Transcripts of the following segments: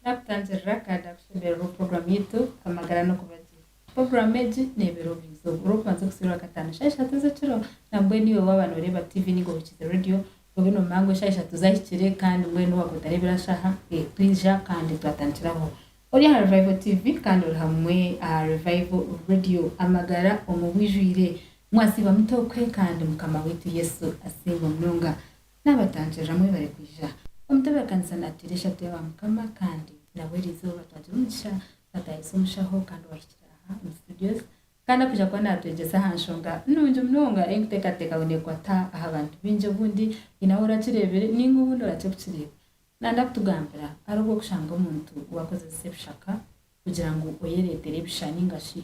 Naakutangirira ka ndaakushoboororera obu puroguraamu yaitu Amagara n'Okubagira. Puroguraamu egi neebeera obuizooba orw'okubanza kusiiba Rwakataano shaaha ishatu ez'ekiro nambwenu naiwe waaba nooreeba tiivi nainga ohurikiize reediyo obe noomanya ngu eshaaha ishatu zaahikire kandi mbwenu waaga otareebire aha shaaha ei twija kandi twatandikira aho. Ori aha Revival Tiivi kandi ori hamwe aha Revival Reediyo. Amagara omu bwijwire. Mwasiiba mute okwe kandi Mukama waitu Yesu asiimwe munonga. Naabatangirira mwebare kwija. Omutebeekanisa naatuteera eshatu ya Baamukama kandi nabwo erizooba twagira omugisha twataayisa omushaho kandi owahikire aha omu studios kandi akwija kuba naatwegyesa aha nshonga nungi munonga ei nkuteekateeka ngu neekwata aha bantu baingi obundi haine ahu orakireebire nainga obundi orakye kukireeba. Nanda kutugambira ari ogw'okushanga omuntu waakozesa ebishaka kugira ngu oyereetere ebisha nainga shi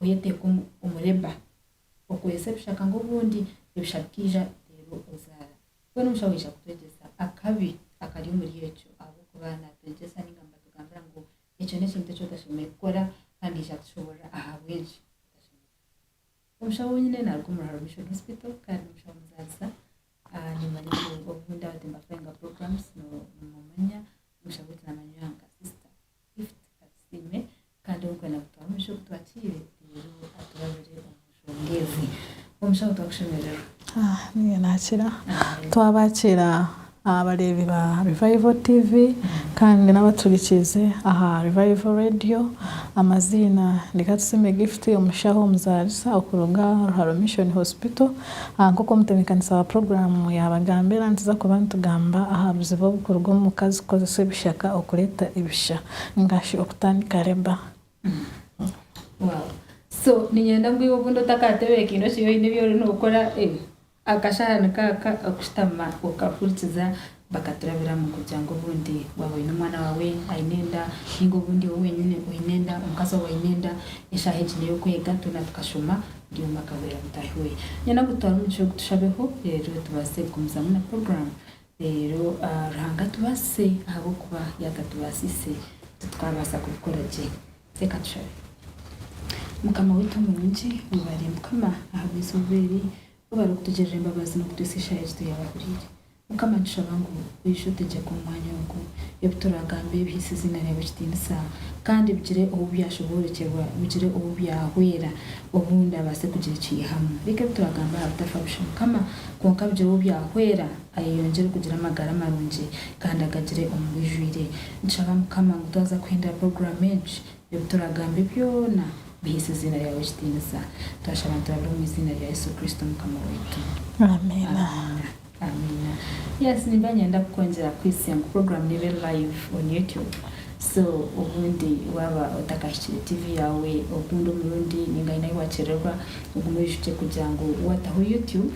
oyeteeka omu omu labour okorese ebishaka ngu obundi ebishaka bikaija reero ozaara. Mbwenu omusha waija kutwegyesa akabi akari omuri ekyo ahabw'okuba naatwegyesa nainga nibatugambira ngu ekyo n'ekintu eki otashemereire kukora kandi aija kutushoboorora ahabw'enki otashemereire kukikora. Omusha ou nyine naaruga omu Ruharo Mission Hospital kandi n'omusha w'omuzaarisa. Niimanya ngu obu ndaba timbafoyinga programs nimumanya, omusha gwitu naamanywa nka sister. Gift Katsiime kandi orikwenda kutwamu ebishuba ebi twatiire reero aturabire omu nshonga ezi. Omushaho twakushemererwa. Niinye naakira. Twabaakiira abareebi ba Revival TV kandi n'abaturikiize aha Revival Radio. Amaziina ni Katsiime Gift, omushaho omuzaarisa okuruga Ruharo Mission Hospital. Nk'oku omutebeekanisa wa puroguraamu yaabagambira, nituza kuba nitugamba aha buzibu oburikuruga omu mukazi kukozesa ebishaka okureeta ebisha nainga shi okutandika Reba. Wow. So, niinyenda ngu iwe obundi otakaatebeekeine okiri oine ebi ori nookora, akashaha nikaaka okushutama okahurikiza Bakaturabiramu kugira ngu obundi waaba oine omwana waawe aine enda, nainga obundi iwe wenyine oine enda, omukazi waawe aine enda, eshaaha egi n'ey'okwega, twena tukashoma, buri omwe akahurira mutaahi we. Nyowe nagutwara omu kishweka tushabeho reero tubaase kugumizamu na puroguraamu. Reero Ruhanga atubaasise ahabw'okuba yaakatubaasiise, titwaabaasa kubikora gye. Teeka tushabe. Mukama waitu omurungi, webare Mukama ahabw'eizooba eri, webare kutugirira embabazi n'okutwitsa eshaaha egi twayabahuriire. Mukama nitushaba ngu oije otegyeke omu mwanya ogu, ebi turagamba ebihise eiziina ryawe ekitiinisa kandi bigire obu byashoboorokyerwa, bigire obu byahwera obundi abaase kugira eki yeihamu. Reka ebi turagamba aha bitafa busha, Mukama, kwonka bigire obu byahwera ayeyongyere kugira amagara marungi kandi agagire omu bwijwire. Nitushaba Mukama ngu twaza kuhindura puroguraamu egi, ebi turagambe byona biheise eiziina ryawe ekitiinisa. Twashaba niturabira omu eiziina rya Yesu Kristo Mukama waitu. Amiina. Amiina yes nimba nyenda kukwongyera kuhitsya ngu program niba eri live on YouTube so obundi waba otakahikire TV yawe ogundi omurundi ninga aine ahi wakyererwa ogume oyijuukye kugira ngu wataho YouTube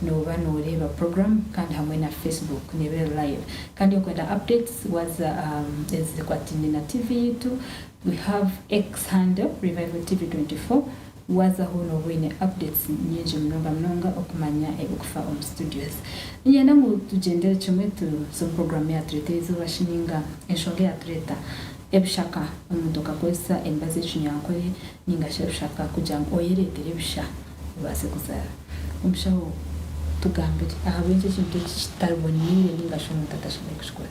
noba noreeba program kandi hamwe na Facebook neeba eri live kandi okwenda updates waza aha ezikwataine na TV yaitu we have X handle revival TV 24. Waaza aho nooba oine updates nyingi munonga munonga okumanya ebirikufa omu studios. Niinyenda ngu tugyendere kimwe tubuuze omu puroguraamu eyaatureta eizooba shi nainga enshonga eyaatureta ebishaka omuntu okakozesa emibazi y'ekinyankore nainga shi ebishaka kugira ngu oyereetere ebisha obaase kuzaara. Omushaho, tugambire ahabw'enki ekintu eki kitari boneire nainga shi omuntu atashemereire kukikora?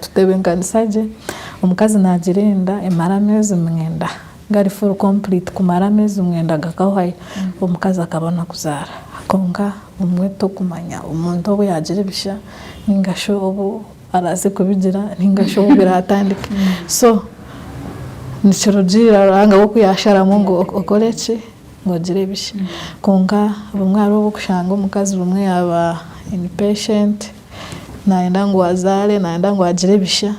Tutebeekanisa gye, Omukazi naagira enda emara ameezi mwenda, gari full complete, kumara ameezi mwenda gakahwayo, omukazi akabona kuzaara. Kwonka obumwe torikumanya omuntu obu yaagira ebisha nainga shi obu arabaase kubigira nainga shi obu biraatandike. So nikirugiirira Ruhanga we ku yaasharamu ngu okore ki, ngu ogire ebisha. Kwonka obumwe hariho obu orikushanga omukazi obumwe yaaba impatient, nayenda ngu azaare nayenda ngu agire ebisha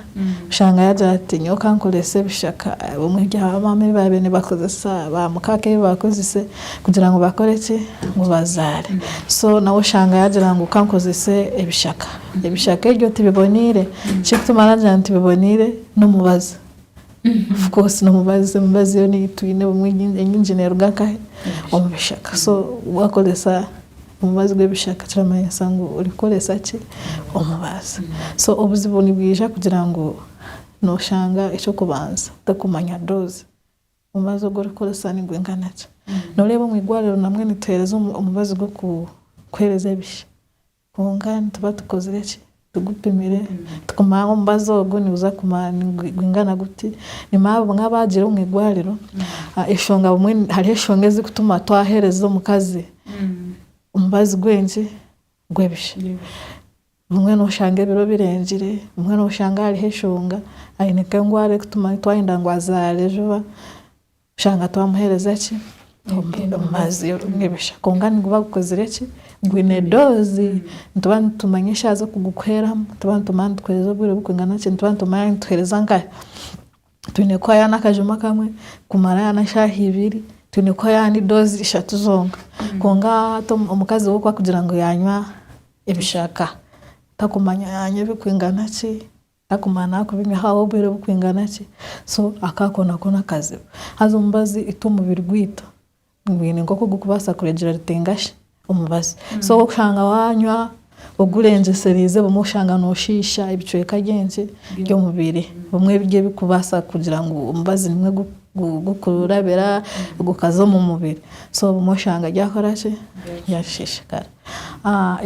oshanga yagira ati nyowe kankorese ebishaka obumwe ebya ba maama ebi babaire nibakozesa ba mukaaka ebi bakozese kugira ngu bakore ki ngu bazaare so nawe oshanga yagira ngu kankozese ebishaka ebishaka ebyo tibiboneire ekirikutuma nagira ngu tibiboneire n'omubazi. Of course nomubazi emibazi yoona ei twine obumwe enyingi neruga nkahe omu bishaka so wakoresa omubazi gw'ebishaka kiramanyisa ngu ori kukoresa ki omubazi so obuzibu nibwija kugira ngu noshanga eky'okubanza torikumanya doozi omubazi ogu ori kukoresa nigwingana ki noreeba omu igwariro namwe nituhereza omubazi gw'okuhereza ebisha Kwonka nituba tukozire ki? Tugupimire. Tukumanya ngu omubazi ogu niguza kumara gwingana guti. Ni manya bumwe abaagiire omu igwariro, eshonga bumwe hariho eshonga ezirikutuma twahereza omukazi omubazi gw'enki? Gw'ebisha. Bumwe noshanga ebiro birengire, bumwe noshanga hariho eshonga, aine nk'engwara erikutuma twayenda ngu azaare juba. Oshanga twamuhereza ki? Omubazi orungebesha kwonka niguba gukozire ki? Gwine dozi. Nituba nitumanya eshaaha z'okugukuheramu, nituba nitumanya nigukuhereza obwire burikwingana ki, nituba nitumanya nigutuhereza nka, twine kuha yaaba n'akajuma kamwe, kumara yaaba n'eshaaha ibiri, twine kuha yaaba n'idozi ishatu zonka. Kwonka hati omukazi we ku arikugira ngu yaanywa ebishaka, takumanya yaanywa ebirikwingana ki? Akaguma nakubigaho obwire bukwingana ki so akakona kona akaziba haza omubazi itwe omubiri gwitu gwine nkoku gukubasa kuregyera rutenga shi omubazi so okushanga wanywa ogurengyeserize obumwe oshanga noshiisha ebicweka byenki byomubiri obumwe ebiryo ebikubasa kugira ngu omubazi nimwo gukurabira gukaza omumubiri so obumwe oshanga ryakoraki ryashishikara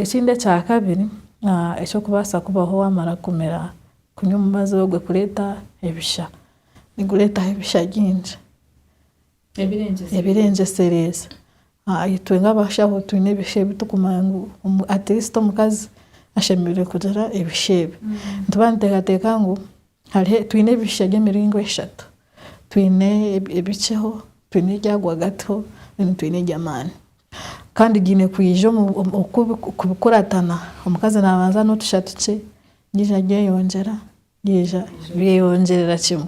ekindi ekyakabiri Eky'okubaasa kubaho waamara kumira kunywa omubazi ogwe kureeta ebisha, nigureetaho ebisha bingi ebirengyesereire. Itwe nk'abashaho twine ebisha ebi turikumanya ngu atirisiti omukazi ashemereire kugira ebisha ebi. Nituba nituteekateeka ngu twine ebisha by'emiringo eshatu. Twine ebikyeho, twine ebya rwagati ho, twine eby'amaani. Kandi giine kwija omu oku oku bikuratana, omukazi nabanza notusha tukye, yaija aryeyongyera, yaija ryeyongyerera kimwe.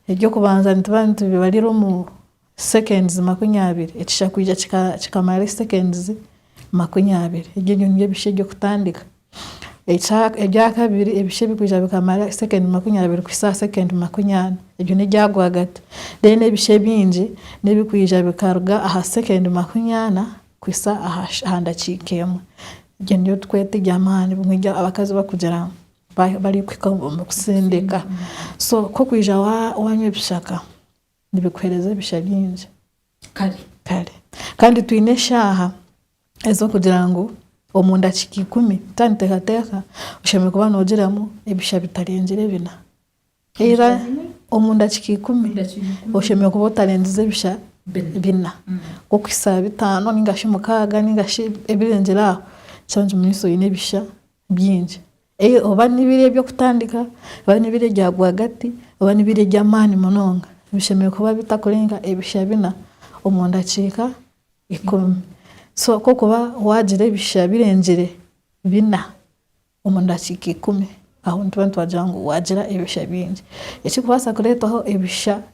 Ebyokubanza nituba nitubibarira omu seconds makumi abiri, ekisha kwija kika kikamara seconds makumi abiri. Ebyo nibyo bisha ebyokutandika. Ebyakabiri, ebicu ebikwija bikamara sekendi makumi abiri kuhitsya aha sekendi makumi ana, ebyo n'ebya rwagati. Then ebicu ebingi n'ebikwija bikaruga aha sekendi makumi ana kuhitsya aha ndakiika emwe. Egyo niyo turikweta eby'amaani, bimwe ebi abakazi barikugira ngu barikuhika omu kutsindika. So ku orikwija wanywa ebishaka, Nibikuheereza ebisha bingi. Kare. Kare. Kandi twine eshaaha ez'okugira ngu omu ndakiika ikumi ta niteekateeka oshemereire kuba noogiramu ebisha bitarengire bina. Haza omu ndakiika ikumi oshemereire kuba otarengize ebisha bina okuhitsya aha bitaano nainga shi mukaaga nainga shi ebirengire aho nikimanyisa oine ebisha bingi. Ee, oba n'ebiro eby'okutandika, oba n'ebiro ebya rwagati, oba n'ebiro eby'amaani munonga, bishemereire kuba bitakurenga ebisha bina omu ndakiika ikumi. So ku orikuba waagira ebisha birengire bina omu ndakiika ikumi, aho nituba nitwagira ngu waagira ebisha bingi. Ekirikubaasa kureetwaho ebisha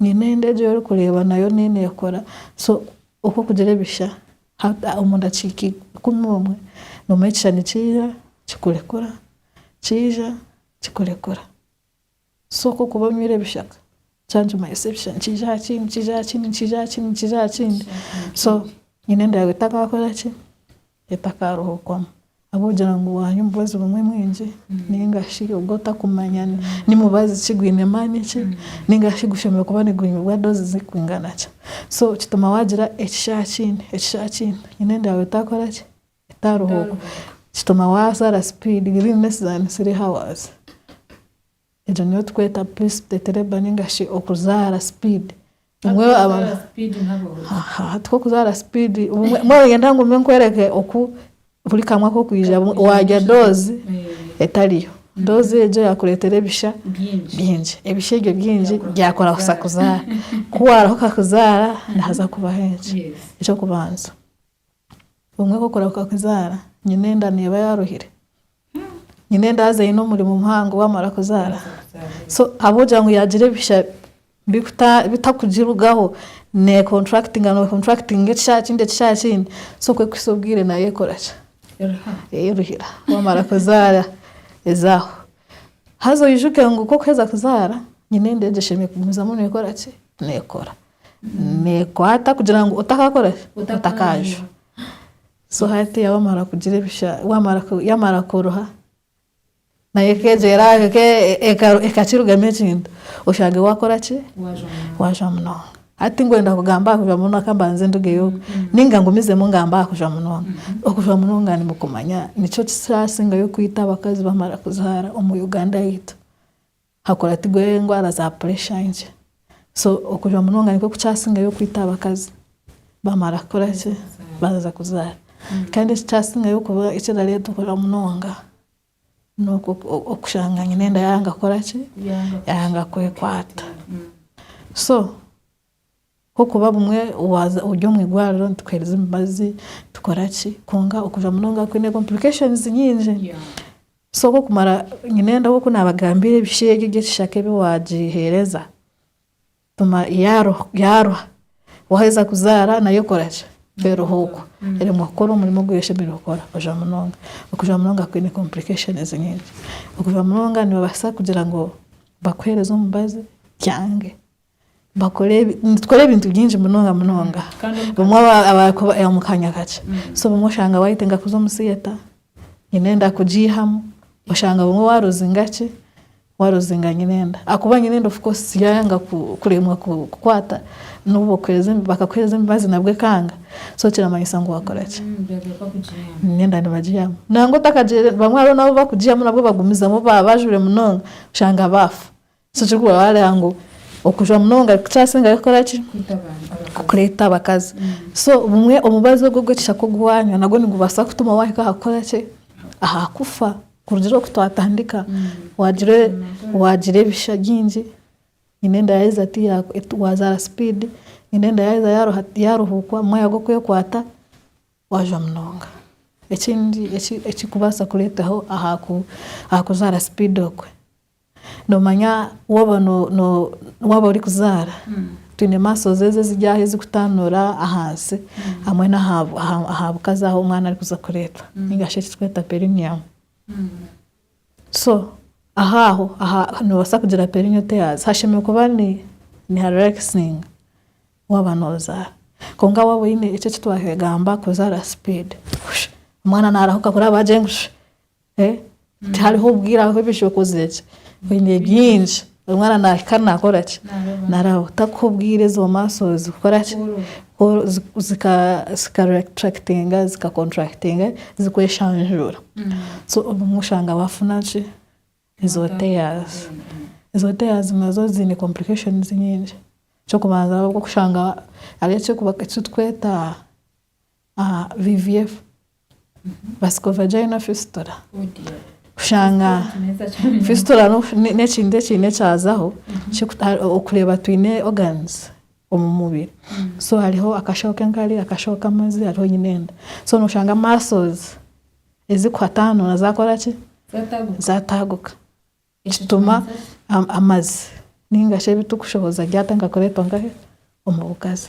Nyine enda egi orikureeba nayo niyo neekora. So oku okugira ebisha hati omu ndakiika ikumi omwe nomu ekishushani kiija kikurekura, kiija kikurekura. So ku okuba onywire ebishaka kya nikimanyisa ebisha nikiija aha kindi, nikiija aha kindi, nikiija aha kindi, nikiija aha kindi. So nyine enda yaawe etakaakora ki? etakaarohokwamu ahabw'okugira ngu waanya omubazi gumwe mwingi nainga shi ogu otakumanya ni mubazi ki, gwine maani ki nainga shi gushemereire kuba nigwimibwa doozi zirikwingana ki. So kituma waagira ekishaa kiingi, ekishaa kiingi haine enda yaawe etaakora ki, etaarohookwa. Kituma waazaara sipiidi, within less than three hours. Egyo niyo tukweta pre-sptetereba ninga shi okuzaara speed. Hati okuzaara speed, mbwenu nyenda ngume nkwereke oku buri kamwe ak'okwija waarya doozi etariyo. Doozi egyo yaakureetera ebisha bingi. Ebisha ebyo bingi byakora kuza kuzaara. Ku waarahuka kuzaara nihaza kubaho enki? Eky'okubanza. Obumwe bw'okurahuka kuzaara, nyine enda neeba yaaruhire, nyine enda haza eine omurimo muhango waamara kuzaara. So ahabw'okugira ngu yaagira ebihitsya bikuta bitakugirugaho, neekonturakitinga nookonturakitinga ekihara kindi ekihara kindi, so kwehikisa obwire nayo ekora ki, eyeruhira waamara kuzaara ezaaho. Haza oijuke ngu ku orikuheza kuzaara, nyine enda egi eshemereire kugumizamu neekora ki, neekora. nekwata kugira ngu otakakora ki otakaajwa so hati wamara kugira ebisha yamara koroha nayo ekegyera ekakirugamu ekintu oshange wakora ki wajwa munonga hati tinkwenda kugamba ahakujwa munonga kambanze ndugeyo ninga ngumizemu ngambe ahakujwa munonga okujwa munonga nimwo kumanya nikyo kirasingayo kwita abakazi bamara kuzaara omu Uganda yaitu. Hakuratirwe endwara za puresha nkye. So okujwa munonga nikwo kukyasingayo okwita abakazi bamara kukora ki, baaheza kuzaara. Kandi ekikyasingayo kuba ekirareeta okujwa munonga, n'okwo okushanga nyine enda yaanga kukora ki, yaanga kwekwata. So Ahabw'okuba bumwe waaza ori omu irwariro nitukuheereza emibazi, tukora ki, kwonka okuza munonga kwine complications nyingi. So ku okumara, nyine nda oku naabagambiire ebishu ebyo eby'ekishaka ebi waagiheereza, bumwe yaaruha, yaaruha, waaheza kuzaara nayo ekora ki, eruha okwo. Eremwa kukora omurimo ogu eshemereire kukora, okuza munonga. Okuza munonga kwine complications nyingi. Okuza munonga nibabaasa kugira ngu bakuheereze omubazi, kyange. Nitukora ebintu bingi munonga munonga omu kaanya kakye. So obumwe oshanga wayetenga kuza omu theatre, nyine enda kugiihamu. Oshanga obumwe waruzinga ki, waruzinga nyine enda. Ahakuba nyine enda of course yayanga kuremwa kukukwata, n'obu bakakuheereza emibazi nabwo ekanga, so kiramanyisa ngu wakora ki, nyine enda nibagiihamu. Nangwa otakagiire, bamwe hariho n'abu bakugiihamu nabwo bagumizamu baaba bajwire munonga, oshanga baafa. Nikyo ku baareeba ngu okujwa munonga kukyasingayo kukora ki? Kureeta abakazi. So bumwe omubazi ogwo ogw'ekishaka ogu waanywa nagwo nigubaasa kutuma waahika aha kukora ki? Aha kufa. Kurugiirira oku twatandika, waagira waagira ebisha bingi, nyine enda yaaheza ti ya waazaara sipiidi, nyine enda yaaheza yaaruha yaaruhuukwa, mwaya gw'okwekwata, waajwa munonga. Ekindi eki ekirikubaasa kureetaho aha ku aha kuzaara sipiidi okwe, Noomanya waaba orikuzaara twine masozi ezo eziryaho ezirikutanuura ahansi hamwe n'aha bukazi ahu omwana arikuza kureetwa nainga shi ekiturikweta perineum. So aho aho noobaasa kugira perineal tears hashemereire kuba niharelakisinga waaba noozaara. Kwonka waaba oine ekyo eki twahegamba kuzaara sipiidi, omwana naarahuka kuriya baagira ngu shi, Eh, tihariho obwire aho ebi ekyokozire ki oine bingi omwana nahika nakora ki narabaho takuha obwire ezo muscles zikora ki Ku- zi- zika zika retractinga zika contractinga zikweshanjura so obumwe oshanga wafuna ki ezo tears ezo tears nazo ziine complications nyingi ekyokubanza nokushanga hariho ekyokuba ekitweta VVF, Vasico Vagina Fistula, kushanga fistula n'ekintu ekiine ekyazaho okureeba twine organs omu mubiri so hariho akashoho k'enkari, akashoho k'amazi hariho nyine enda so noshanga muscles ezikuhatanuura zakora ki? Zataaguka kituma amazi ninga shi ebitukushohoza byatandika kureetwa nkahe? Omu bugazi.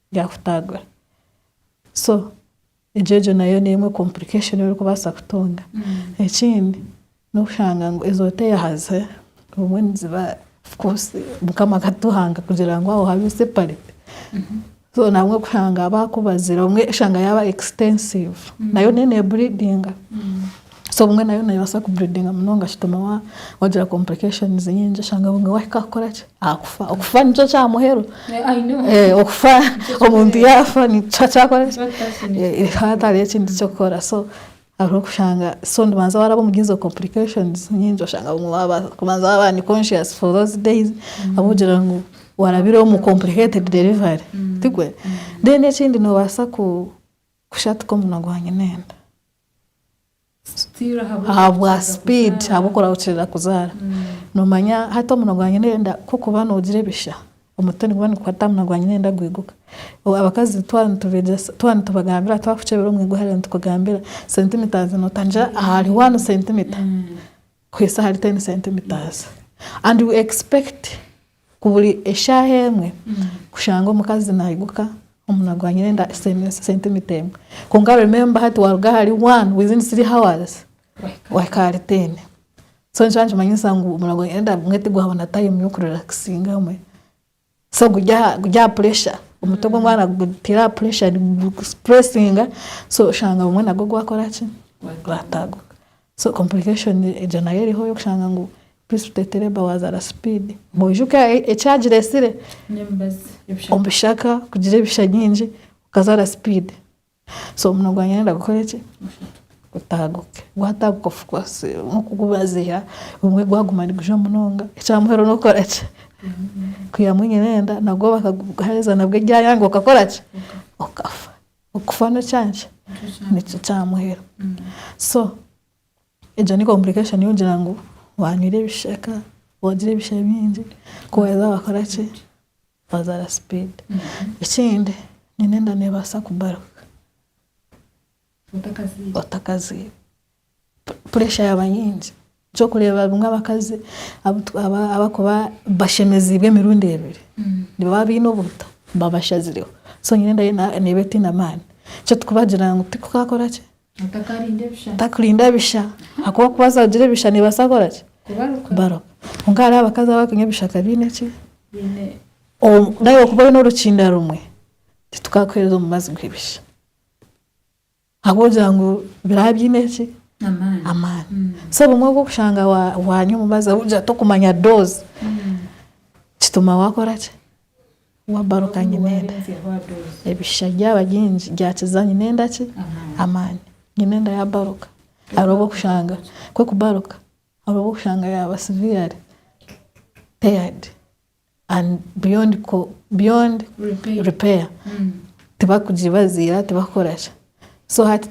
byakutaagura so egyo nayo nemwe complication ei orikubaasa kutunga ekindi nokushanga ngu ezo oteyahaza obumwe niziba of course mukama akatuhanga kugira ngu aho habe separate so nabwo kushanga bakubazire obumwe oshanga yaba extensive nayo neyo ne buridinga. So obumwe nayo nebaasa ku breedinga munonga kitume wa wagira complications nyingi oshange obumwe wahika kukora ki akufa okufa nikyo kya muheru Yeah, I know. Eh, okufa omuntu yaafa nikishuha kyakora ki Nikyo kitasinzire. Eh, eh, hatariho ekindi kyokukora so hariho okushanga so nibanza waraba omuri ezo complications nyingi oshanga obumwe waba kubanza waba unconscious for those days ahabw'okugira ngu warabire omu complicated delivery tigwe then ekindi nobaasa ku kushatika omunwa gwa nyina enda Ahabwa speed ahabwa oku oraba okirira kuzaara. Nomanya hati omunwa gwa nyina enda ku orikuba nogira ebisha, omutwe niguba nigukwata aha munwa gwa nyina enda gwiguka. Abakazi twaba nitubegyesa, twaba nitubagambira twaba tukukyebera omu igwe hare nitukugambira centimetres notangira ahari one centimeter kuhitsya ahari ten centimetres and we expect. Ku buri eshaaha emwe kushanga omukazi naiguka omu nagwanyira enda sentimita emwe kwonka remember hati waruga ahari one within three hours wahika ahari ten so nikyo nikimanyisa ngu omu nagwanyira enda gumwe tigwaba na time yoku relaxinga mwe so guri aha pressure omutwe gwomwana gutire aha pressure nigugupuresinga so oshanga gumwe nagwo gwakora ki gwataguka So complication egyo nayo eriho eyokushanga ngu please tuteete labour wazaara speed. Noijuka ekyagira esire omubishaka kugira ebisha nyingi okazaara speed so omuno gwangye nayenda kukora eki gutaaguke gwataaguka of course nokugubaziira obumwe gwaguma nigujwa munonga ekyamuheru nokukora ki kwihamu enyirenda nagwo bakaguheereza nabwo eryayanga okakora ki okafa. Okufa n'ekyankye nikyo kyamuhera so egyo ni complication y'okugira ngu wanywire ebishaka wagira ebishe bingi ku waza wakora ki wazara speed ekindi nyine enda nebasa kubaruka otakaziire. Puresha yaaba nyingi, nikyo orikureeba abamwe abakazi abarikuba bashemeziibwe emirundi ebiri, nibo baba baine obuta, baba bashazireho, so nyine enda ye neeba etaine amaani. Nikyo turikubagira ngu tikukakora ki? Tikukarinda bisha, ahakuba ku baaza kugira ebisha neebaasa kukora ki? Kubaruka. Kwonka hariho abakazi abarikunywa ebishaka baine ki? Naawe kuba oine orukinda rumwe, titukakuheereza omubazi gw'ebisha. Ahabw'okugira ngu biraba biine ki? Amaani. So obumwe obu orikushanga waanywa omubazi ahabw'okugira torikumanya doozi, kituma waakora ki? Waabaruka ngu nyine enda. Ebishisha byaba bingi byakiza nyine enda ki? Amaani. Nyine enda yaabaruka. Hariho obu orikushanga kw'okubaruka, hariho obu orikushanga yaaba siviyare peyadi. and beyond beyond repair tibakugibaziira tibakukoraki so hati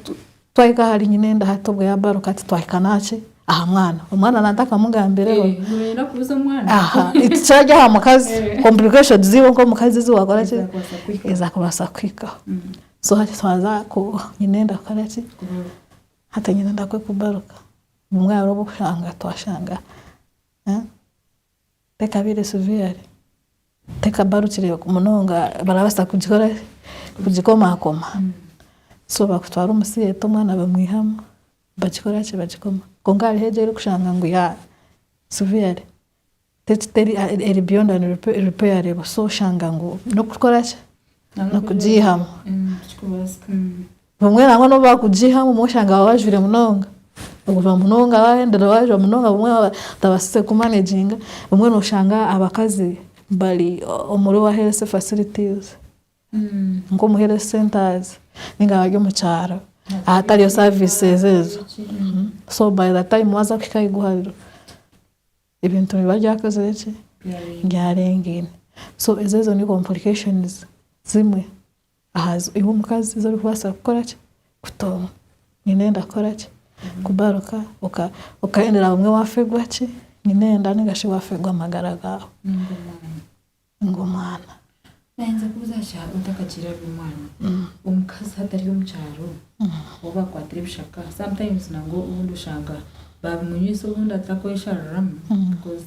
twahika ahari nyina enda hati obwo yabaruka hati twahika naki aha mwana omwana nante akamugambireho eh, tikirari aha mukazi eh. complication ziiwe nk'omukazi ziwakoraki eza kubaasa kuhikaho mm. so hati twaza ku nyina enda kukoraki hati nyina enda kwekubaruka bumwe hariho obwokushanga twashanga eh? Tekabaire severe, tekabarukire munonga barabaasa kugikora ki, kugikomaakoma. So bakutwara omu theatre omwana bamwihamu bagikora ki, bagikoma. Kwonka hariho egi orikushanga ngu ya severe, teri teri eri beyond and repairable so oshanga ngu n'okukora ki, n'okugiihamu. Obumwe nangwa nobu bakugiha obumwe oshanga baba bajwire munonga ogurwa munonga bahendera bajwa munonga obumwe baba batabasize ku managinga obumwe noshanga abakazi bari omuri owa health facilities nka omu health centers ninga abari omu kyaro ahatariyo services ezo so by the time waza kuhika aha igwariro ebintu nibiba byakozire ki byarengaine so ezo nizo complications zimwe. Aha zo iwe omukazi ezi orikubaasa kukora ki? Kutonga. Nyine enda kukora ki? Kugaruka oka okahendera bumwe waafegwa ki? Nyine enda ninga shi waafegwa amagara gaawe ninga omwana. Naayenda kubuuza ngu shaaha otakagire ari omwana, omukazi hatari omu kyaro ou baakwatira ebishaka sometimes nabwo obundi oshanga baabimunywisa obundi atakwesharuramu because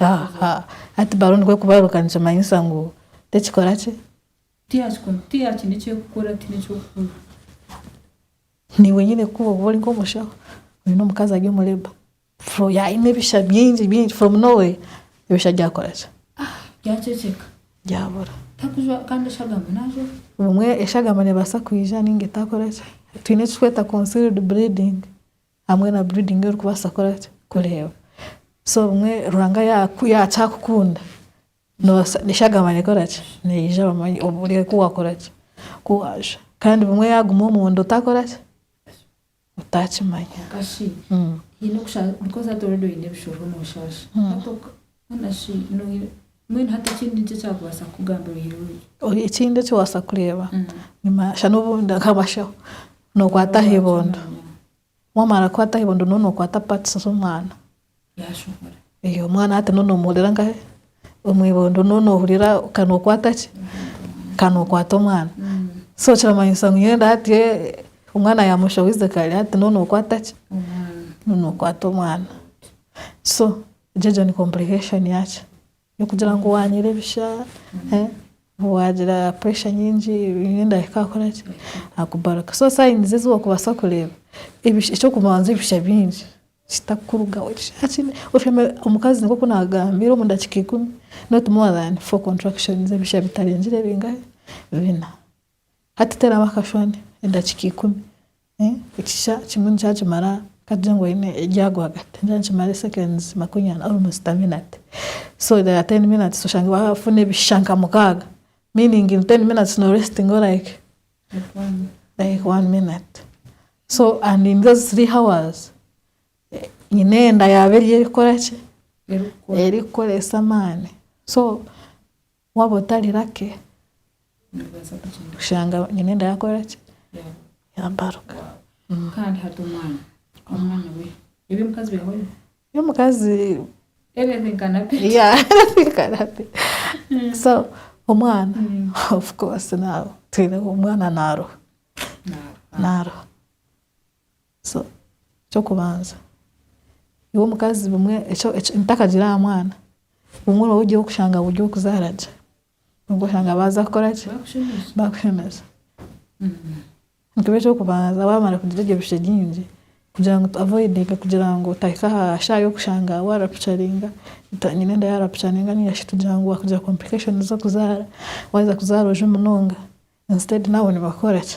Aha, hati balo nikwo kubaruka nikimanyisa ngu tekikora ki? Niiwe nyine kukuba oba ori nk'omushaho, oyine omukazi ari omu labour, fro yaine ebisha bingi bingi from no where, ebisha byakora ki? Byabura. Obumwe eshagama nebaasa kwija ninga etakora ki? Twine ekiturikweta concealed bleeding, Hamwe na breeding orikubaasa kukora ki? Kureeba. So obumwe Ruhanga ya yakyakukunda noobaasa n'eshagama nekora ki? Neija bamanye obu ori ku waakora ki? Ku waajwa. Kandi bumwe yaaguma omunda otakora ki? Otakimanya. Haine okusha because hati already oine ebishoho nooshaasha. Haana shi nooyereba? Mbwenu hati ekindi nki ekyakubaasa kukugambira oyeruure? Ekindi ekiwaasa kureeba, shana obundi nk'abasheho, nookwata aha ibondo, waamara kukwata aha ibondo nooba nookwata parts z'omwana, ee omwana hati nooba noomuhurira nkahe? Omu ibondo nooba noohurira nka nookwata ki? Nka nookwata omwana. So kiramanyisa ngu nyowe hati omwana yaamushohoize kare hati nooba nookwata ki? Nooba nookwata omwana. So Egyo egyo ni complication yakyi yokugira ngu wanyera ebisha wagira pressure nyingi buri endahika akoraki akubaruka so signs ezi wokubasa kureba ekyokubanza ebisha byingi kitakurugaho omukazi nkoku nagambire omudakika ikumi not more than four contractions ebisha bitarengire bingahe bina Hati teeraho akashushani edakiika ikumi, ekisha kimwe nikyakimara katugire ngu oine erya rwagati nikyo nikimara seconds makumi ana almost a minute so there are ten minutes oshange wafuna ebisha nka mukaaga meaning in ten minutes no restingaho like like one minute so and in those three hours nyine enda yaabe eriyo erikukora ki? Erikukoresa amaani so Waaba otari lake, kushanga nyine enda yaakora ki? Yaabaruka. Y'omukazi, yeah, everything can happen. So omwana, of course, naaba, twine omwana naaruha, naaruha. So ekyokubanza iwe omukazi bumwe ebitakagira aha mwana bumwe oraba ori ow'okushanga buri ow'okuzaara gye nibwo oshanga baaza kukora ki baakushemeza nikiba ekyokubanza waamara kugira ebyo bishushe bingi kugira ngu tu avoidinge kugira ngu otahika aha shaaha y'okushanga waarapucaringa nyina enda yaarapucaringa nainga shi tugira ngu waakugira complications z'okuzaara waaheza kuzaara oje munonga instead naabo nibakora ki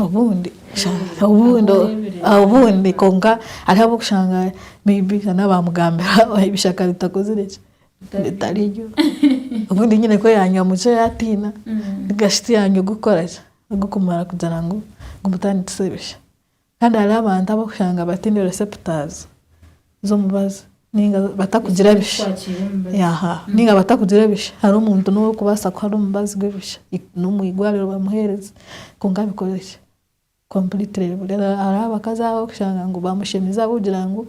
Obundi obundi kwonka hariho ab'okushanga may be na n'abaamugambira ebishaka ritakozire ki? Ritari ryo. Obundi nyine ku yaanywa mucwe yaatiina nigashi tiyaanywa ogw'okukora ki? Ogw'okumara kugira ngu gumutandikise bisha. Kandi hariho abantu abu orikushanga bataine receptors z'omubazi ninga batakugira bishi. Ninga batakugira bishi. Hariho omuntu n'ou orikubaasa kuha n'omubazi gw'ebishi, n'omu igwariro bamuheereze kwonka bikore ki? Completely bibure. Hariho abakazi abu orikushanga ngu baamushemize ahabw'okugira ngu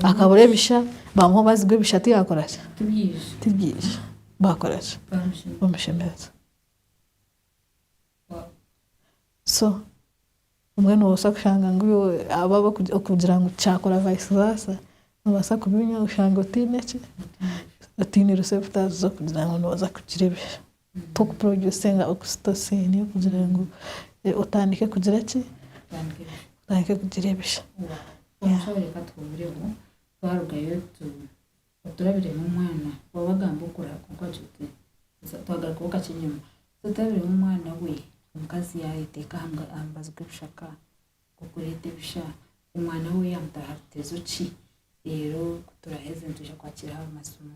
akabura ebisha, baamuha omubazi gw'ebisha tiyaakora ki? Tibyija. Baakora ki? Bamushemeza. So obumwe nobaasa kushanga ngu abo abarikugira ngu tikyaakora vice versa nobaasa kubinywa oshange otaine ki, otaine receptors z'okugira ngu nooza kugira ebisha. Tokuproducinga oxytocin kugira ngu otandike kugira ki, otandike kugira ebisha. oturabiremu omwana wawe agamba okura kwonka wagira oti so twagarukaho kakye enyima so oturabiremu omwana we omukazi yayeteeka aha mubazi gw'ebishaka okureeta ebisha omwana we yamutaaha aha rutezo ki reero ku turaheza nitwija kwakira aha masimu.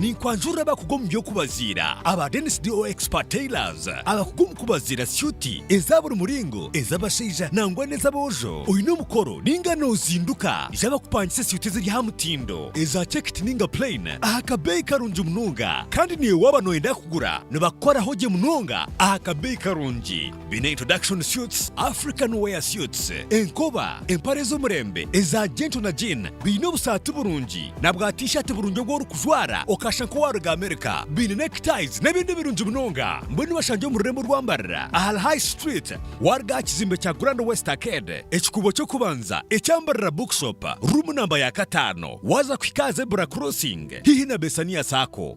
Ninkwanjurira abakugu omu by'okubaziira aba Dennis DO Expert Tailors abakugu omu kubaziira syuti eza buri muringo, ez'abashaija nangwa n'ez'aboojo. Oine omukoro ninga nozinduka? Ija bakupangise syuti eziri aha mutindo, eza chekiti ninga plain aha kabeeyi karungi munonga. Kandi naiwe waaba noyenda kugura nibakukoraho gye munonga aha kabeeyi karungi. Baine introduction suits, African wear suits, enkoba, empare z'omurembe eza gentle na jean, baine obusaati burungi na bwa t-shirt burungi obu orikujwara okashusha nk'owaaruga America, baine neckties n'ebindi birungi munonga. Mbwenu bashangye omu rurembo orwambarira ahari High Street waaruga aha kizimbe kya Grand West Arcade, ekikuubo ky'okubanza ekyambarira Bookshop, ruumu namba ya kataano waaza kuhika aha Zebra Crossing haihi na Bessania Sacco.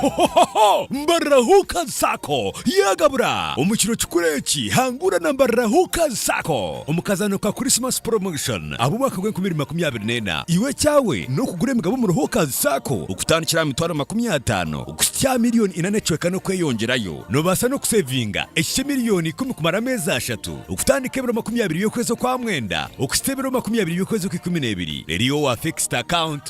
Hohohoho! Mbarira Hookers Sacco yagabura! Omu kiro kikuru eki, hangura na Mbarira Hookers Sacco omu kazaano ka Christmas Promotion ab'omwaka gw'enkumi ibiri makumi abiri n'ena. Iwe ekyawe n'okugura emigabo omuri Hookers Sacco okutandikira aha mitwaro makumi ataano kuhitsya aha milioni ina n'ecweka n'okweyongyerayo. Noobaasa n'okuseevinga eki ky'emilioni ikumi kumara ameezi ashatu, okutandika ebiro makumi abiri by'okwezi okwa mwenda okuhitsya ebiro makumi abiri by'okwezi okw'ikumi n'ebiri. Reero iwe wa fixed account.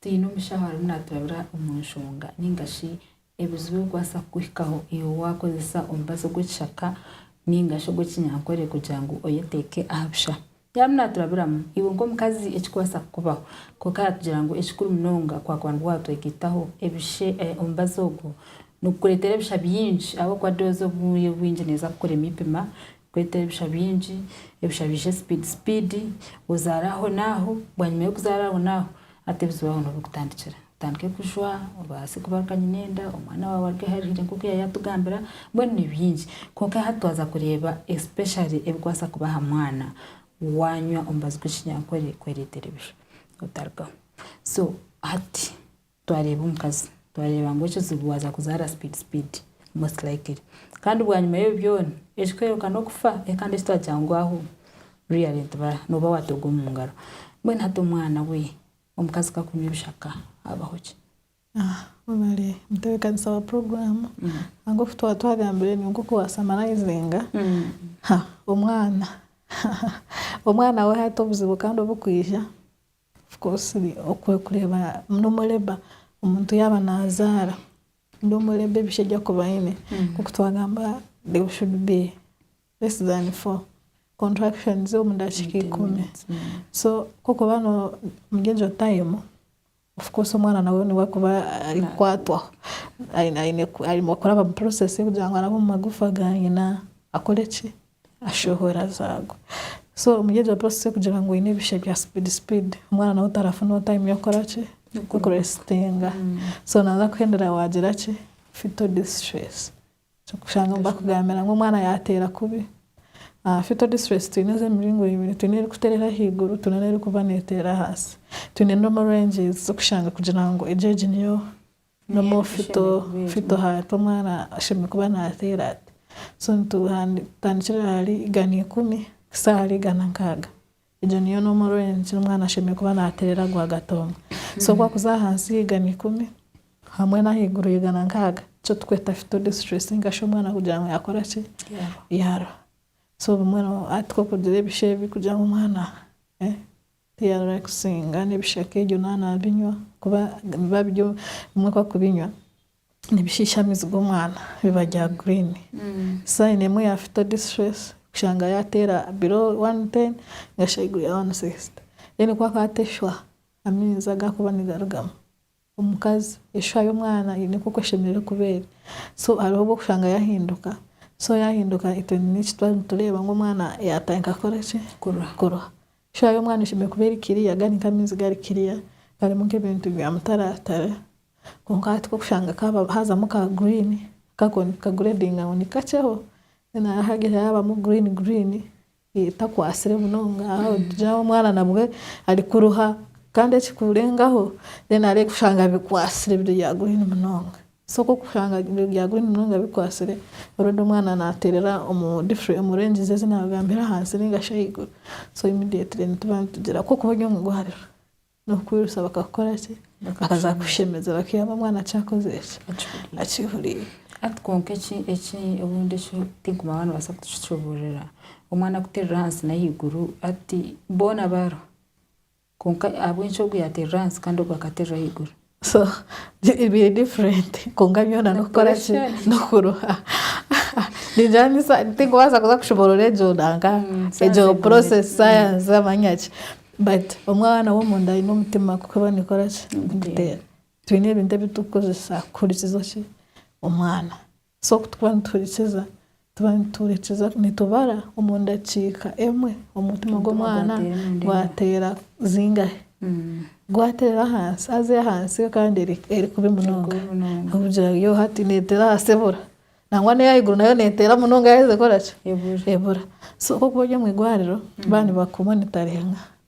Twine omushaho arimu naaturabira omu nshonga nainga shi ebizibu ebirikubaasa kukuhikaho iwe waakozesa omubazi ogw'ekishaka nainga shi ogw'ekinyankore kugira ngu oyeteeke aha busha. Yaaba arimu naaturabiramu iwe nk'omukazi ekirikubaasa kukubaho, kwonka yaatugira ngu ekikuru munonga kwaakuba nibwo waatwegaitaho ebishe omubazi ogwo, nigukureetera ebisha bingi ahabw'okuba doozi obwire obwingi neeza kukurema eipima Kweta ebisha bingi, ebisha biije sipiidi sipiidi, ozaare aho n'aho, bwanyima y'okuzaara aho n'aho, hati ebizibu aho niho birikutandikira. Otandike kujwa, obaase kuba kanyina enda, omwana waawe aruge aharihire nk'oku yaaba yaatugambira, mbwenu ni bingi. Kwonka yaaba twaza kureeba especially ebikubaasa kuba aha mwana waanywa omubazi gw'ekinyankore kwereetera ebisha, otarugaho. So hati. Twareeba omukazi, twareeba ngu ekizibu waaza kuzaara speed speed most likely. Kandi bwanyima y'ebi byona, ekikwereka n'okufa ekandi eki twagira ngu ahu really ntiba nooba waatooga omu ngaro. Mbwenu hati omwana we omukazi ku akunywa ebishaka habaho ki? Webale mutebeekanisa wa puroguraamu. Ahabw'oku twaba twagambire ni nk'oku waasamarayizinga omwana. Omwana we hati obuzibu kandi obu kwija. Of course oku orikureeba normal labour omuntu yaaba naazaara normal labour ebishugi okuba aine nk'oku twagamba there should be less than four contractions omu dakiika ikumi so ku orikuba omuri egyo time of course omwana nawe niwe arikuba arikukwatwaho aine aine aine kuraba omu process y'okugira ngu arabe omu magufa ga nyina akore ki? ashohora zaago so omuri egyo process yokugira ngu oyine ebishe bya speed speed omwana nawe tarafunaho time yokukora ki yokurestinga so naza kuhendera wagira ki fetal distress kushanga nibakugambira ngu omwana yateera kubi fetal distress twine ezemiringo ebiri twine erikuterera ahaiguru twine nerikuba neteera ahansi twine normal ranges zokushanga kugira ngu egyo egi niyo N'omufito fito hariho omwana ashemereire kuba naateera ati. So nitutandikira ahari igana ikumi kuhitsya ahari igana nkaaga. Egyo niyo normal range ei omwana ashemereire kuba naateerera rwagati omwe. So waakuza ahansi y'eigana ikumi hamwe n'ahaiguru y'eigana nkaaga, nikyo turikweta fito disituresiinga shi omwana kugira ngu yaakora ki, yaaruha. So obumwe hati ku orikugira ebishu ebi kugira ngu omwana. Tiyarikusinga n'ebishaka ebyo naaba naabinywa, kuba biba biri bimwe ku arikubinywa nibishiisha amiizi g'omwana biba bya green. Sign emwe ya phytodistress kushanga yaateera below one hundred and ten ningashi ahaiguru ya one hundred and sixty then ku arikuba ateeshwa amiizi agu arikuba nigarugamu. Omukazi eshwa y'omwana eine nk'oku eshemereire kuba eri. So hariho obu orikushanga yaahinduka. So yaahinduka itwe n'eki twaba nitureeba ngu omwana yaatandika kukora ki? Kurwa. Eshwa y'omwana eshemereire kuba eri kiriya, gari nk'amaizi gari kiriya, garimu nk'ebintu bya mutaratara. Kwonka hati ku orikushanga kaaba haazamu ka guriini, ka ka gureedinga ngu nikakyeho, then haagira haabamu guriini guriini, etakwatsire munonga ahabw'okugira omwana nabwe arikuruha kandi ekikurengaho then areebe kushanga bikwatsire biri bya green munonga so ku orikushanga biri bya green munonga bikwatsire already omwana naterera omu different omu ranges ezi nagambire ahansi ningashi ahaiguru so immediately nituba nitugira ku orikuba ori omu irwariro. N'okukwirusa bakakukora ki? Bakaza kukushemeza bakihama omwana akyakoze ki? Akihuriire. Hati kwonka eki eki obundi eki tinkumanya oba nibaasa kukicuburira. Omwana kuterera ahansi n'ahaiguru hati boona baarwa. Kwonka ahabw'enki ogu yaaterera ahansi kandi ogu akaterera ahaiguru? So biri different kwonka byona nokukora ki nokuruha ningira tinkubaasa kuza kushoboorora egyo nanka egyo process science amanya ki but omwana w'omunda aine omutima kuko eba nekora ki niguteera twine ebintu ebi turikukozesa kuhurikiza ki omwana. So ku tuba nituhurikiza, tuba nituhurikiza, nitubara omu ndakiika emwe omutima gw'omwana gwateera zingahe. Gwateera ahansi, haza ey'ahansi yo kandi eri kubi munonga. Ahabw'okugira yo hati neetera ahansi ebura. Nangwa n'ey'ahaiguru nayo neetera munonga yaaheza ekora ki? Ebura. So ku orikuba ori omu igwariro, baaba nibakumonitaringa.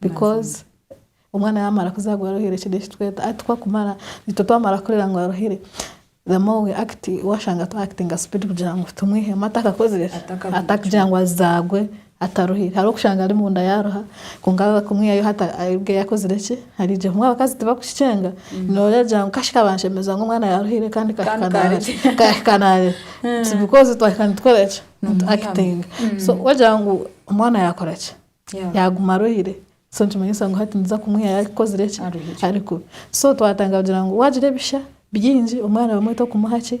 Because omwana yamara kuzarwa aruhire ekyo nekyo tweta hati twakumara itwe twamara kurera ngu aruhire the more we act washanga twa actinga speed kugira ngu tumwihemu atakakozire ki Atakavuga atakugira ngu azagwe ataruhire hariho okushanga ari munda yaruha kwonka abe kumwihayo hati aribwe yakozire ki arije kumwe abakazi tibakukikyenga noregira ngu kashi ka banshemeza ngu omwana yaruhire kandi ka- Kandi ka- ka- kahika narira It's because twahika nitukora ki nitu Nimwihamu. actinga so wagira ngu omwana yakora ki Yaguma arwaire so nikimanyisa ngu hati niza kumwiha yakozire ki? Ari kubi. So twatandika kugira ngu wagira ebisha byingi omwana obumwe tokumuha ki?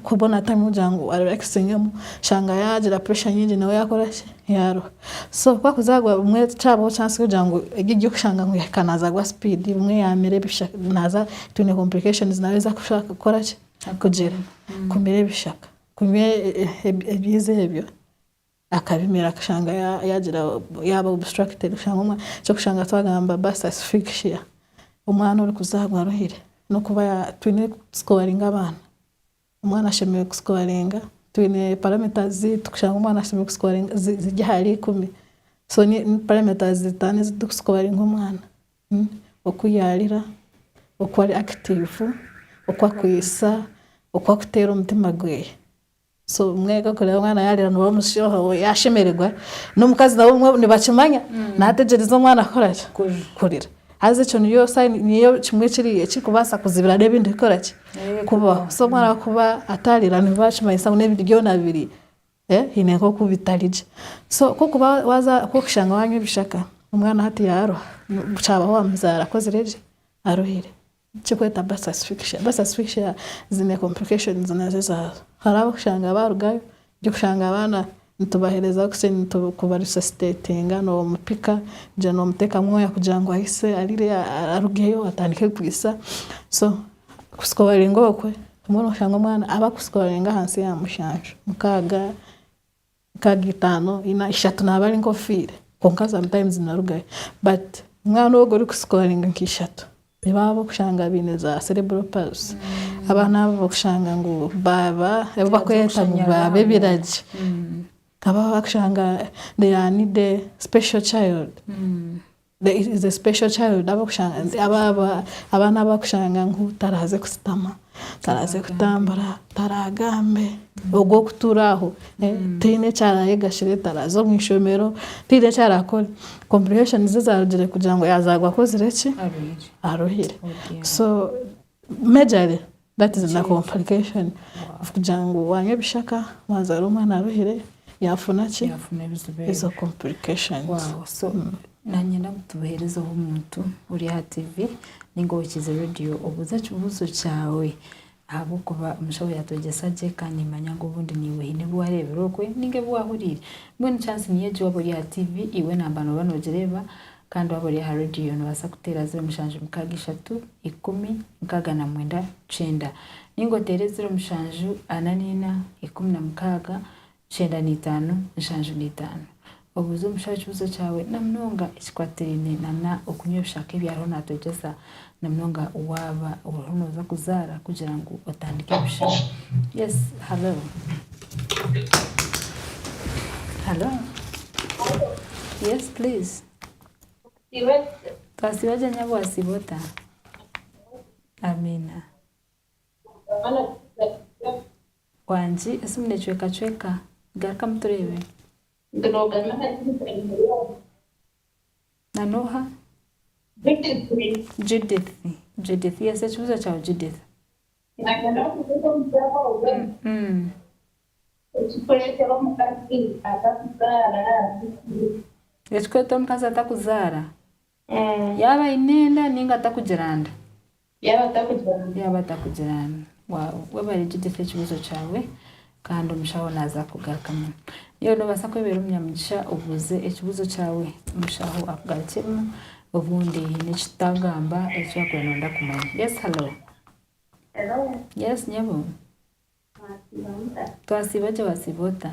Kubona time kugira ngu arelaxingemu. Oshanga yagira pressure nyingi nawe yakora ki? Yaruha. So ku arikuza arwaire obumwe tikyabaho chance y'okugira ngu egi egy'okushanga ngu yahika naaza arwa speed obumwe yaamira ebisha naaza twine complications nawe ezi arikushusha kukora ki? Kugira. Kumira ebishaka, kunywa ebiizi ebyo. akabimira akashanga yagira yaaba obstructed kushanga ekyokushanga twagamba bus asphyxia omwana orikuzaarwa aruhire nokuba twine kusikoringa abaana omwana ashemereire kusikoringa twine parameters zeitu kushanga omwana ashemereire kusikoringa ziri ahari ikumi so ni parameters zitaano ezitukusikoringa omwana oku yarira oku ari active oku akwitsa oku akuteera omutima gweeye. So mwega kureba omwana yarira niwe omushoha we yashemererwa nomukazi nabo obumwe nibakimanya nategyereza omwana kukoraki kurira haza ekyo niyo sign niyo kimwe ekiri ekirikubaasa kuzibira nebindi kukoraki kubaho so omwana wakuba atarira nibiba nikimanyisa ngu nebindi byona biri hine nkoku bitari gye so kokuba waza kokushanga wanywa ebishaka omwana hati yaruha kyabaho wamuzaara akozire gye aruhire. Ekirikwetwa birth asphyxia, birth asphyxia ziine complications nazo ezaazo, hariho ab'okushanga baarugayo, ori kushanga abaana nitubaheereza bukye ku ba resuscitatinga noomupika kugira ngu noomuteeka mwaya kugira ngu ahitsye arire arugeyo atandike kwitsa, so kuscoriinga okwe obumwe nooshanga omwana abakuscoriinga ahansi ya mushanju, mukaaga Nkaaga itaano, ina, ishatu naaba ari nk'ofiire kwonka sometimes narugayo but omwana ogwo ori ku scoringa nka ishatu nibo abo okushanga baine za cerebral palsy, abaana abo okushanga ngu baaba abu bakweta ngu baaba ebiragi, abu bakushanga they are need special child. There is a special child abakushanga nti aba aba abaana abakushanga ngu taraze kusitama taraze kutambura taragambe ogwo okutura aho eh, taine ekyarayega shire taraze omu ishomero taine ekyarakore complications zarugire kugira ngu yazagwa akozire ki Arwaire. aruhire Okay. so Majorly that is the complication of kugira ngu wanywa ebishaka wazaara omwana aruhire yafuna ki? Yafuna ebizibu ebyo. Ezo complications. Wow, so nanye nabu tubuherezeho omuntu ori aha TV ninga owokize radio obuuze ekibuuzo kyawe ahabwokuba omushaho yatwegyesa gye kandi nimanya ngu obundi niiwe haine ebi wareebire okwe ninga ebi wahuriire. Mbwenu chance niyo egi waaba ori aha TV iwe namba nooba noogireeba Kandi waaba ori aha radiyo noobaasa kuteera ziro mushanju mukaaga ishatu ikumi nkaaga na mwenda kyenda. Nainga oteere ziro mushanju ana naina ikumi na mukaaga kyenda naitaano nshanju naitaano. Obuuze omushaija ekibuuzo kyawe na munonga ekikwatirine nana okunywa ebishaka ebi ariho natwegyesa. na munonga waaba oriho nooza kuzaara kugira ngu otandike busha. Yes, halo. Halo. Yes please. Twasiiba gye nyabu wasiiba ota? Amiina. Wangi esimu necwekacweka. Garukamu tureebe. Na n'oha? Judith. Judith. Judith. Yes, ekibuzo kyawe, Judith. Nagana kubuza omuzaara ogwe ekikuretera omukazi atakuzaara nikiki? Ekikuretera omukazi atakuzaara? Yaaba aine enda ninga atakugira nda. Yaaba atakugira ngu. Yaaba atakugira ngu. Waawe, we barigyegyesa ekibuuzo kyawe kandi omushaho naaza kukugarukamu. Nyowe noobaasa kwebeera omunyamugisha obuuze ekibuuzo kyawe omushaho akugarukyemu obundi haine eki tutaagamba eki wakuba nooyenda kumanya. Yes, hello. Hello. Yes, nyabo. Mwasiiba muta? Twasiiba gye, wasiiba ota?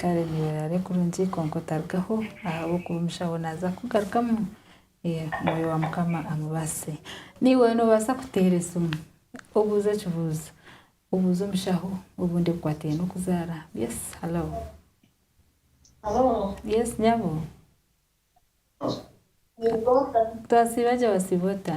Kare neerare kurungi kwonka otarugaho ahabw'okuba omushaho naaza kukugarukamu Mwoyo wa Mukama amubaase. Naiwe noobaasa kuteera esimu obuuze ekibuuzo, obuuze omushaho obundi ebikwataine n'okuzaara. Yes, halo. Yes, nyabo. Twasiiba gye, wasiiba ota?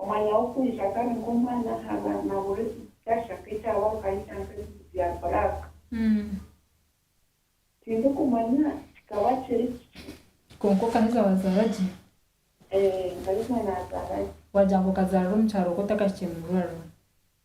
Omwanya w'okwija kandi nk'omwana aha baana buri kishasha k'ekyaba nkayija nk'ebicu bya black. Tindikumanya kikaba kiri kiki. Kwonka okaheza wazaara gye? Eeh, nkaheza nazaara gye. Wagira ngu okazaarira omu kyaro okwo otakahikire mu irwariro?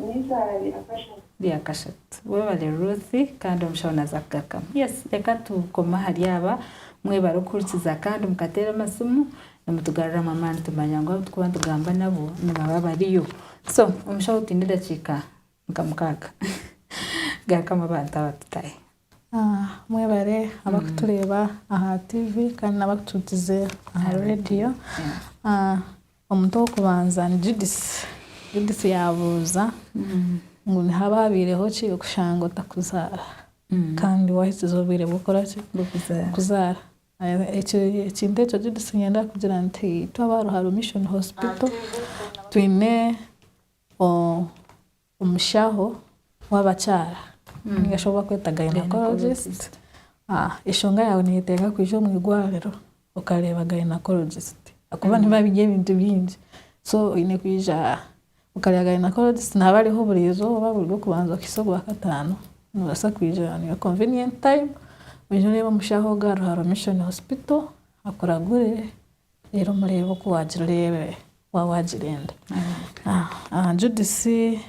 N'eizooba rya kashatu. Rya kashatu. Webale Ruth kandi omushaho naza kugakama. Yes reka tukome ahari aba mwebare okuhurikiza kandi mukateera amasimu nimutugaruramu amaani tumanya ngu abu turikuba nitugamba nabo nibaba bariyo. So omushaho twine edakiika nka mukaaga gakama abantu aba tutahe. Mwebare abakutureeba aha TV kandi n'abakutuhurikize aha radio. Omuntu ow'okubanza ni Judisi. Judisi yaabuuza ngu, Nihaba haabaireho ki okushanga otakuzaara? Kandi waahikize obwire bw'okukora ki? Bw'okuzaara. Ekintu ekyo Judisi niinyenda kugira nti itwe aba Ruharo Mission Hospital twine Omushaho w'abakyara ninga shi obu bakweta gynaecologist. Eshonga yaawe neyetenga kwija omu irwariro okareeba gynaecologist ahakuba nibo abine ebintu bingi. So oyine kwija okareeba gynaecologist naaba ariho buri izooba buri rw'okubanza kuhitsya orwakataano. Nobaasa kwija on your convenient time oije oreebe omushaho ogu ari aha Mission Hospital akuragure. Reero mureebe oku waagiree, wa, waagirenda. Aha Judisi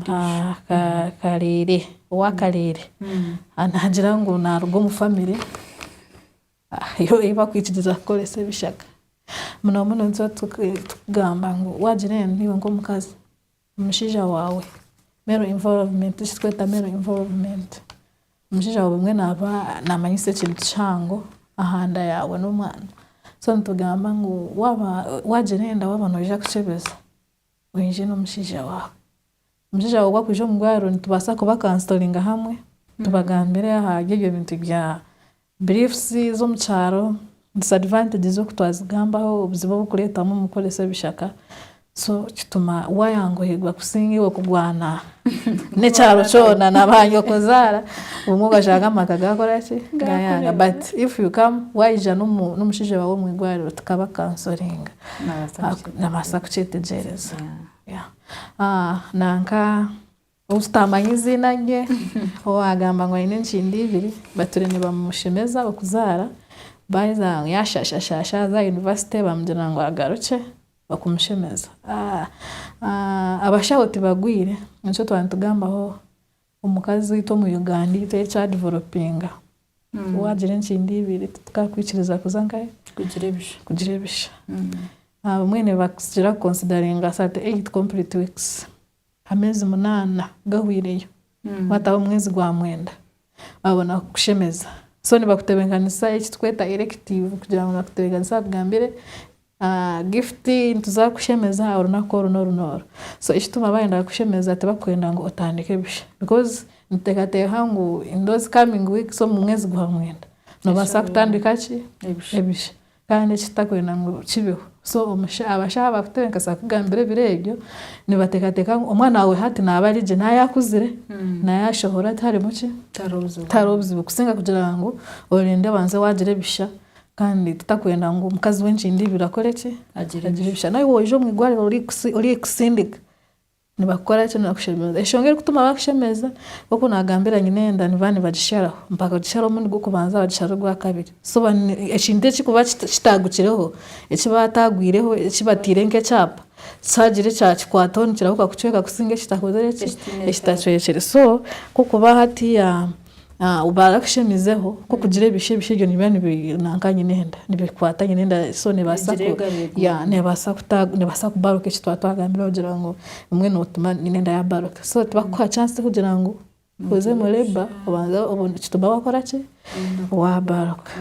ka, ka, Kareere, owa Kareere, naagira ngu naaruga omu famire ei ei bakwikiriza kukoresa ebishaka. Muno muno nituba tu, tukugamba ngu waagira endi, naiwe nk'omukazi, Omushaija waawe, male involvement, eki turikweta male involvement, omushaija waawe obumwe naaba namanyisa ekintu kihango aha nda yaawe n'omwana, so nitugamba ngu waaba waagira enda waaba noija kukyebeza, oije n'omushaija waawe, omushaija waawe obu arikwija omu bwaariro nitubaasa kubakansoringa hamwe, tubagambire ahari ebyo bintu bya Beliefs z'omu kyaro, disadvantages oku twazigambaho, obuzibu obu kureetamu omu kukoresa ebishaka, so kituma wayanguhirwa kusinga iwe kugwana n'ekyaro kyona na ba nyokozaara obumwe obashanga amaka gakora ki? Gayanga. But if you come wayija n'omu- n'omushaija waawe omu igwariro tukaba kansoringa Nabaasa kuki- nabaasa kukyetegyereza. Yeah. Yeah. Ah, nanka Ou tutaamanya eiziina rye, owaagamba ngu aine enkindo ibiri, bature nibamushemeza okuzaara, baaheza yaashashashaasha aza aha yunivasite baamugira ngu agarukye okumushemeza. Abashaho tibagwire, nikyo twaba nitugambaho omukazi waitu omu Uganda ei turi kyadivelopinga. Waagira enkindo ibiri titukakwikiriza kuza nkahe? Kugira ebisha. Abamwe nibagira kukonsidaringa thirty eight complete weeks. Ameezi munaana gahwireyo waataho omwezi gwa mwenda babona kukushemeza so nibakutebenkanisa eki tukweta erective kugira ngu nibakutebenkanisa bakugambire gift nituza kukushemeza orunaku oru n'oru n'oru so ekituma baayenda kukushemeza tibakwenda ngu otandike busha because nituteekateeka ngu in those coming weeks omu mwezi gwa mwenda noobaasa kutandika ki ebisha Kandi eki tutakwenda ngu kibeho. So abashaho abakutebenkesa kukugambira ebiro ebyo, nibatekateka ngu omwana wawe hati naba ari gye, naya akuzire, naya ashohora tiharimu ki? Tihariho buzibu. Kusinga kugira ngu orinde obanze wagira ebisha. Kandi tutakwenda ngu omukazi wenkindo ibiri akore ki? Agire ebisha. Nawe waija omu igwariro orikutsindika, Nibakukora ki naakushemeza? Enshonga erikutuma baakushemeza, nk'oku naagambira Nyinenda, niba nibagisharaho. Bakagisharaho omurundi gw'okubanza, bagishara ogwa kabiri. So ekintu eki kuba kitaagukireho, eki baataagwireho, eki bataire nk'ekyapa, kyagira ekyakikwataho nikirahuka kucweka kusinga ekitakozire ki? Ekitacwekire. So nk'oku ba hatiiya. Barikushemizeho ku okugira ebishu, ebishu ebyo nibiba nanka nyine enda, nibikwata nyine enda so nebaasa nebaasa kubaruka eki twaba twagambire kugira ngu bumwe notuma nyine enda yabaruka so tibakukuha chance kugira ngu oze omu labour obanze nikituma wakora ki, wabaruka.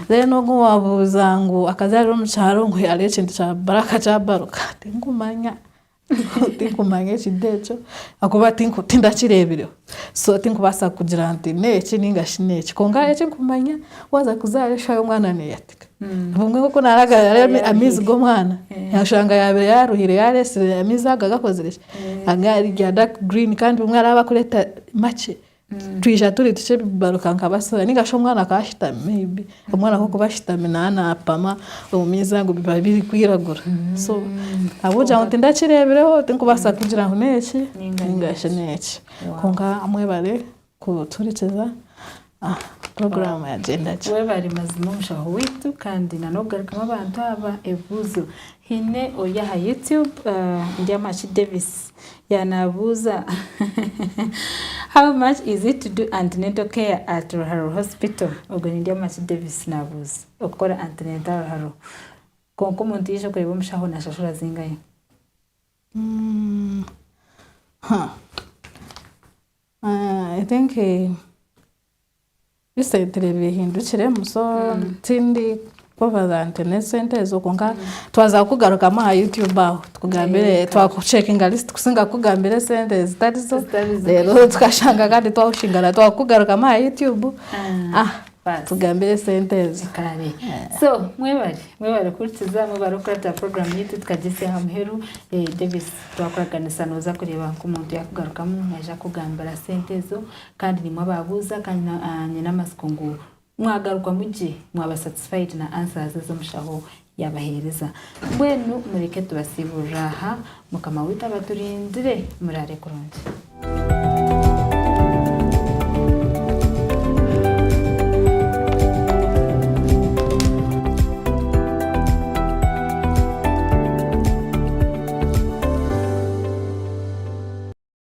Then ogwo owaabuuza ngu akazaarire omu kyaro ngu hariho ekintu kyabaasa kuba kyabaruka, tinkumanya. Tinkumanya ekiri ekyo ahakuba tindakireebireho. So tinkubaasa kugira nti n'eki nainga shi n'eki. Kwonka hariho eki nkumanya, waaza kuzaara eshaaha omwana neeyatika. Obumwe nk'oku naaragarura hariho amaizi g'omwana, oshanga yaabaire yaaruhire yaareetsire amaizi ago agakozire ki, agari dark green kandi obumwe araabaire arikureeta makye. Twija turi tukye bibaruka nka basura ninga shi omwana akaba ashitami maybe omwana akokuba ashitami naba napama omu maizi ago biba biri kwiragura so ahabw'okugira ngu tindakirebireho tinkubaasa kugira ngu neki ninga shi neki kwonka mwebare kutuhurikiza puroguramu yagyenda gye. Webare mazima omushaho waitu kandi na n'okugarukamu abantu aba ebibuzo. Haine ori aha YouTube Ndyamaki Davis ya nabuuza How much is it to do antenatal care at Ruhararo hospital? Ogwe ni Ndyamaki Davis nabuuza okukora antenatal aha Ruharo. Kwonka omuntu yaija kureeba omushaho nashashura zingahi? I think. Ebisentire bihindukiremu so tindi kubaza nti n'esente ezo kwonka twaza kukugarukamu aha YouTube aho tukugambire twakucekinga lisiti kusinga kukugambira esente ezitari zo reero tukashanga kandi twakushingana twakukugarukamu aha YouTube tukugambire esente ezo. So mwebare mwebare kuhurikiza mwebare kukurata puroguramu yaitu tukagyetsya aha muheru. Davis twakuraganisa nooza kureeba nk'omuntu yaakugarukamu naija kukugambira sente ezo. Kandi nimwe ababuuza kandi na, ah, nyine amatsiko ngu mwagaruka mugye mwaba satisfied na answers ezi omushaho yabaheereza. Mbwenu mureke tubasiiburire aha. Mukama waitu abaturindire. Muraare kurungi.